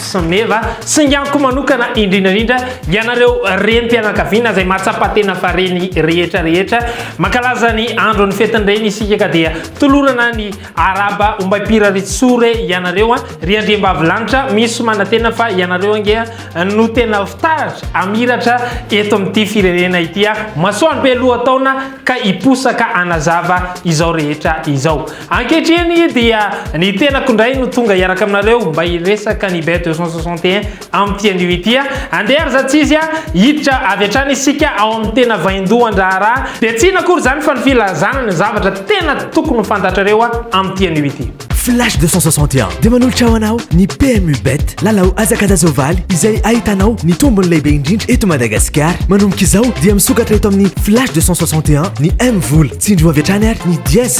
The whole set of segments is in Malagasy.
Smeva, singaniko manokana indrindra indrindra ianareo renim-pianakaviana izay mahatsapa tena fa reny rehetra rehetra, mankalaza ny andron'ny fetin-dreny isika ka dia tolorana ny araba ombaim-piraritsore ianareo an, ry Andriambavilanitra misy manantena fa ianareo ange no tena fitaratra hamiratra eto amin'ity firenena ity an, masoandro be lohataona ka hiposaka hanazava izao rehetra izao. Ankehitriny dia ny tenako indray no tonga hiaraka aminareo mba hiresaka ny Beth 261 amin'ity anio ity. Andeha ry zatsizy a! Hiditra avy hatrany isika ao amin'ny tena vaindohan-draharaha dia tsy inona akory izany fa ny filazana ny zavatra tena tokony ho fantatrareo amin'ity anio ity. Flash 261 dia manolotra ho anao ny PMU Bet, lalao hazakazaka ovaly izay ahitanao ny tombony lehibe indrindra eto Madagasikara. Manomboka izao dia misokatra eto amin'ny Flash 261 ny M-vola. Tsindrio avy hatrany ary ny diez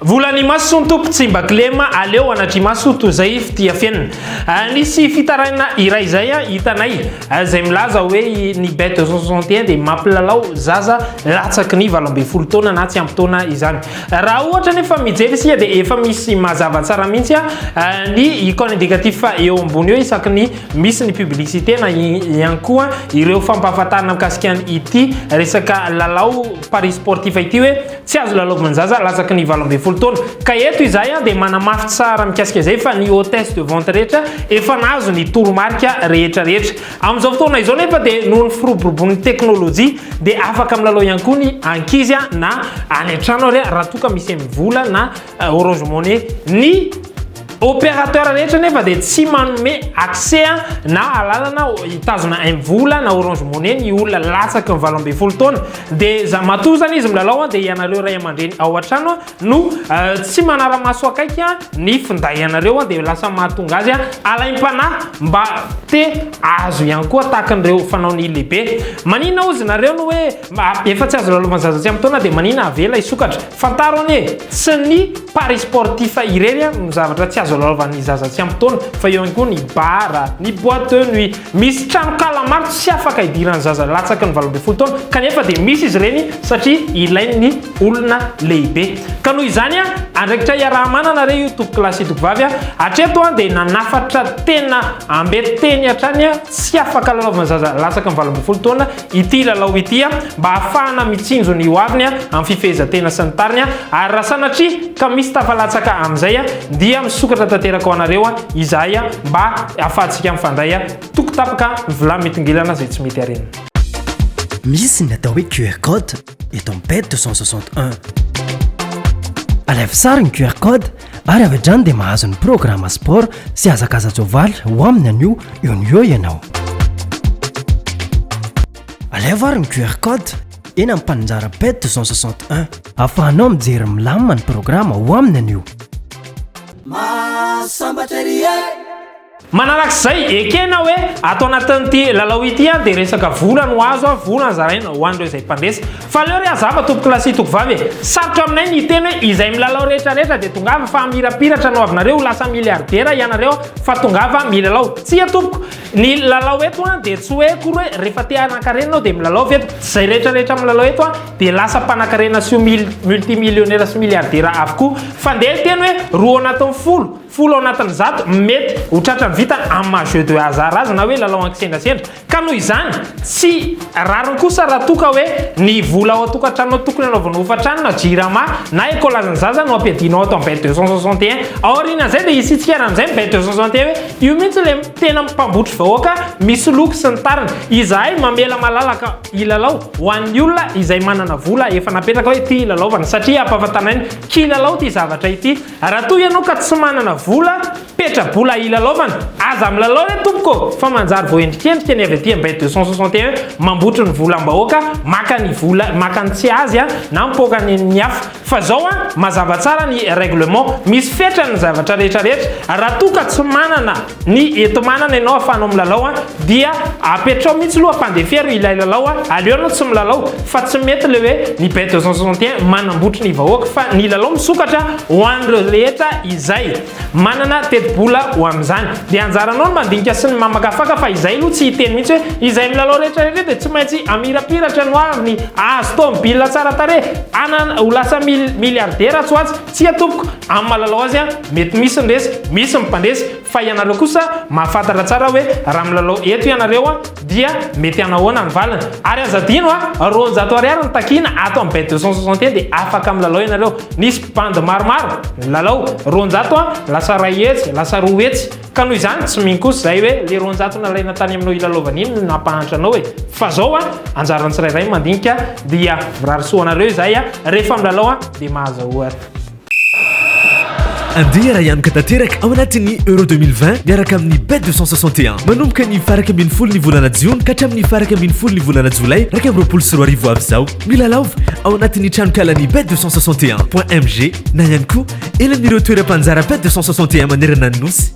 Vola ny maso ny Tompo tsy mba kilema aleo anatri-maso toy izay fitia fenina. Nisy fitarainana iray izay hitanay izay milaza hoe ny bête de 61 dia mampilalao zaza latsaky ny valo ambin'ny folo taona na tsy ampy taona izany. Raha ohatra nefa mijery isika dia efa misy mazava tsara mihitsy ny icône indicatif eo ambony eo isaky ny misy ny publicité na ihany koa ireo fampahafantarana mikasika ity resaka lalao paris sportif ity hoe Tsy azo lalaovin'zaza latsaky ny valo ambin'ny folo taona. Ka eto izahay dia manamafy tsara mikasika izay fa ny hôtesse de vente rehetra efa nahazo ny toromarika rehetra rehetra. Amin'izao fotoana izao nefa dia noho ny firoborobon'ny teknolojia dia afaka milalao ihany koa ny ankizy na any an-trano ary raha toa ka misy vola na euh, Orange Money ny opérateur rehetra nefa dia tsy manome accès na alalana hitazona mvola na orange money ny olona latsaky ny valo ambin'ny folo taona dia za matoa zany izy milalao dia ianareo ray aman-dreny ao an-trano no euh, tsy manara-maso akaiky ny finday ianareo dia lasa mahatonga azy alaim-panahy mba te azo ihany koa tahaka an'ireo fanao ny lehibe manina ozy nareo no hoe efa tsy azo lalovan'ny zaza tsy amin'ny taona dia manina avela isokatra Fantaro anie, tsy ny paris sportif irery no zavatra tsy azo alalaovan'ny zaza tsy ampy taona fa eo ihany koa ny bar, ny boite de nuit. Misy tranonkala maro tsy afaka hidiran'ny zaza latsaky ny valo ambin'ny folo taona kanefa dia misy izy ireny satria ilain'ny olona lehibe. Ka noho izany, andraikitra iaraha-manana re io tompokolahy sy tompkovavy a! Hatreto dia nanafatra tena ambe teny hatrany tsy afaka alalaovan'ny zaza latsaky ny valo ambin'ny folo taona ity lalao ity mba hahafahana mitsinjo ny hoaviny amin'ny fifehezan-tena sy ny tariny ary raha sanatria ka misy tafalatsaka amin'izay dia misokatra tanteraka ho anareo izahay mba hahafahantsika mifandray toko tapaka ny vilany mitongilana izay tsy mety harena. Misy ny atao hoe QR code. eto amin'ny ped 261 alaivo sary ny qr code ary avy hatrany dia mahazo ny programme sport sy hazakaza-joavaly ho amin'ny anio eo ny eo ianao alaivo ary ny qr code eny amin'ny mpanonjara ped 261 afahanao mijery milamina ny programme ho amin'ny anio Manarak'izay, ekena hoe ato anatin'ity lalao ity dia resaka vola no azo, vola no zaraina ho an'ireo izay mpandresy. Fa aleo re hazava tompokolahy sy tokovavy e! Sarotra aminay ny hiteny hoe izay milalao rehetra rehetra dia tongava fa hamirapiratra ny hoavinareo ho lasa miliaridera ianareo fa tongava milalao. Tsia tompoko! Ny lalao eto dia tsy hoe akory hoe rehefa te hanankarena ianao dia milalao ve eto? Izay rehetra rehetra milalao eto dia lasa mpanankarena sy ho multimillionera sy miliaridera avokoa. Fa ndeha hiteny hoe roa ao anatin'ny folo. folo ao anatin'ny zato mety ho tratran'ny vita amin'ny maha jeu de hasard azy na hoe lalao an-kisendrasendra, ka noho izany tsy rariny kosa raha toa ka hoe ny vola ao an-tokantranonao tokony hanaovanao hofantrano na jirama na ecolan'ny zaza no ampiadianao ato amin'ny bet deux cent soixante et un, ao aorianan'izay dia hisy hitsikera amin'izay ny bet deux cent soixante et un hoe io mihitsy ilay tena mpambotry vahoaka misoloky sy ny tariny, izahay mamela malalaka hilalao ho an'ny olona izay manana vola efa napetraka hoe ity hilalaovana satria ampahafantanay ny kilalao ity zavatra ity. Raha toa ianao ka tsy manana vola, petra-bola hilalaovana, aza milalao re tompoko fa manjary voaendrikendrika ny avy aty Ambay deux cent soixante et un mambotry ny volam-bahoaka, maka ny vola, maka ny tsy azy na mipoaka ny an'ny hafa. Fa zao an, mazava tsara ny règlement, misy fetrany ny zavatra rehetra rehetra, raha toa ka tsy manana, ny eto manana ianao afahanao milalao a, dia apetrao mihitsy loha fandefero ilay lalao a, aleo ianao tsy milalao fa tsy mety le hoe ny Bay 261 manambotry ny vahoaka fa ny lalao misokatra ho an'ireo rehetra izay manana tetibola ho amin'izany dia anjaranao ny mandinika sy ny mamakafaka fa izay loha tsy hiteny mihitsy hoe izay milalao rehetra rehetra dia tsy maintsy amirapiratra no avy ny ahazo tômobila tsara tarehy hanana ho lasa mil, miliardera atsy ho atsy Tsia tompoko, amin'ny mahalalao azy aho, mety misy ny resy, misy ny mpandresy, fa ianareo kosa mahafantatra tsara hoe raha milalao eto ianareo dia mety hanahoana ny valiny. Ary aza adino a, roanjato ariary no takiana ato amin'ny bet deux cent soixante et un dia afaka milalao ianareo. Nisy mpibandy maromaro nilalao, roanjato a, lasa iray hetsy, lasa roa hetsy. Ka noho izany tsy mino kosa izay hoe le roanjato nalaina tany aminao hilalaovana iny no nampahantra anao e! Fa zao a, anjaran'ny tsirairay mandinika dia mirary soa anareo izahay a, rehefa milalao a dia mahaza ohatra. Andeha arahihanoka tanteraka ao anatin'ny Euro deux mille vingt miaraka amin'ny Bet deux cent soixante et un. Manomboka ny faha iraika ambin'ny folo ny volana jiona ka hatramin'ny faha iraika ambin'ny folo ny volana jolay iraika amby roapolo sy roa arivo ho avy izao. Milalaova ao anatin'ny tranonkalan'ny Bet deux cent soixante et un point MG na ihany koa Eny amin'ireo toeram-panjara PET 261 manerana ny Nosy.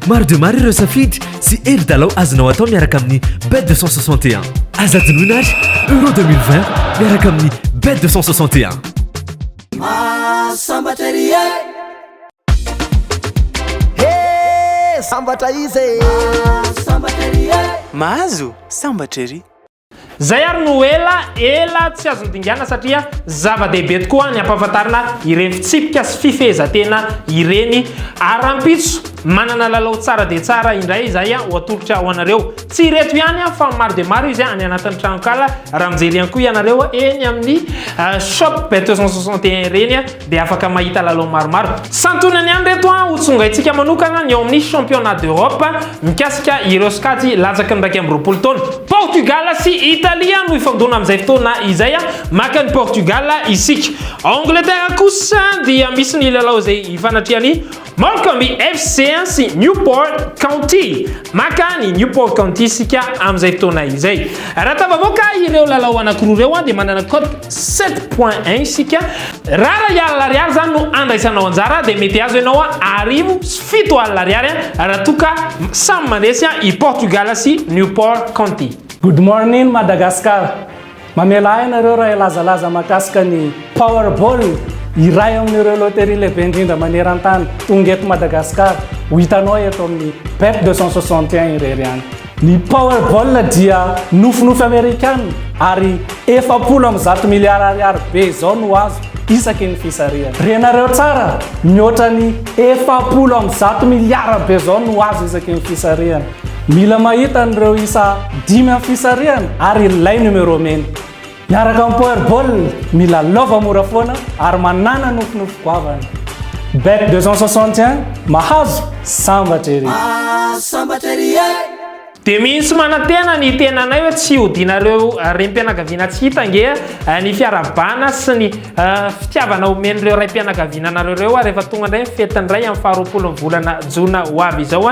Maro dia maro ireo safidy sy hevi-dalao azonao atao miaraka amin'ny PET 261. Aza adinoina ary Euro 2020 miaraka amin'ny PET 261. Mahazo sambatra ery. Zay ary no ela ela tsy azo nodingana satria zava-dehibe tokoa ny ampahafantarina ireny fitsipika sy fifehezan-tena ireny ary rahampitso manana lalao tsara dia tsara indray izay ho atolotra ho anareo. Tsy ireto ihany fa maro dia maro izy any anatin'ny tranonkala raha mijery ihany koa ianareo eny amin'ny shop bet 261 ireny. dia afaka mahita lalao maromaro. Santionany ihany ireto ho tsongaintsika manokana ny ao amin'ny Championnat d'Europe mikasika ireo sokajy latsaky ny iraika amby roapolo taona. Portugal sy Italia no hifandona amin'izay fotoana izay, maka an'i Portugal isika. Ao Angleterre kosa dia misy ny lalao izay ifanatrehany Montgomery FC sy Newport County. Maka ny Newport County isika amin'izay fotoana izay. Raha tafavoaka ireo lalao anankiroa ireo dia manana cote 7 points 1 isika. Raha iray alina ariary izany no andraisanao anjara dia mety azo ianao arivo sy fito alina ariary raha toa ka samy mandresy i Portugal sy Newport County. Good morning Madagascar. Mamela ahy ianareo raha hilazalaza mahakasika ny Powerball, iray amin'ireo loterie lehibe indrindra maneran-tany, tonga eto Madagasikara. Ho hitanao eto amin'ny Bet 261 irery ihany. Ny Powerball dia nofinofy Amerikana ary efapolo amby zato miliara ariary be izao no azo isaky ny fisarihana. Renareo tsara, mihoatra ny efapolo amby zato miliara be izao no azo isaky ny fisarihana. Mila mahita an'ireo isa dimy amin'ny fisarihana ary ilay numéro mena. Miaraka amin'ny Powerball, mila lova mora foana ary manàna nofinofy goavana. Bet 261, mahazo, sambatra ery! Ah, sambatra ery eh! Dia misy manantena ny tenanay hoe tsy hodianareo renim-pianakaviana tsy hita ange ny fiarahabana sy ny fitiavana omen'ireo raim-pianakaviana anareo ireo rehefa tonga indray ny fetin'ny ray amin'ny faharoapolon'ny volana jona ho avy izao.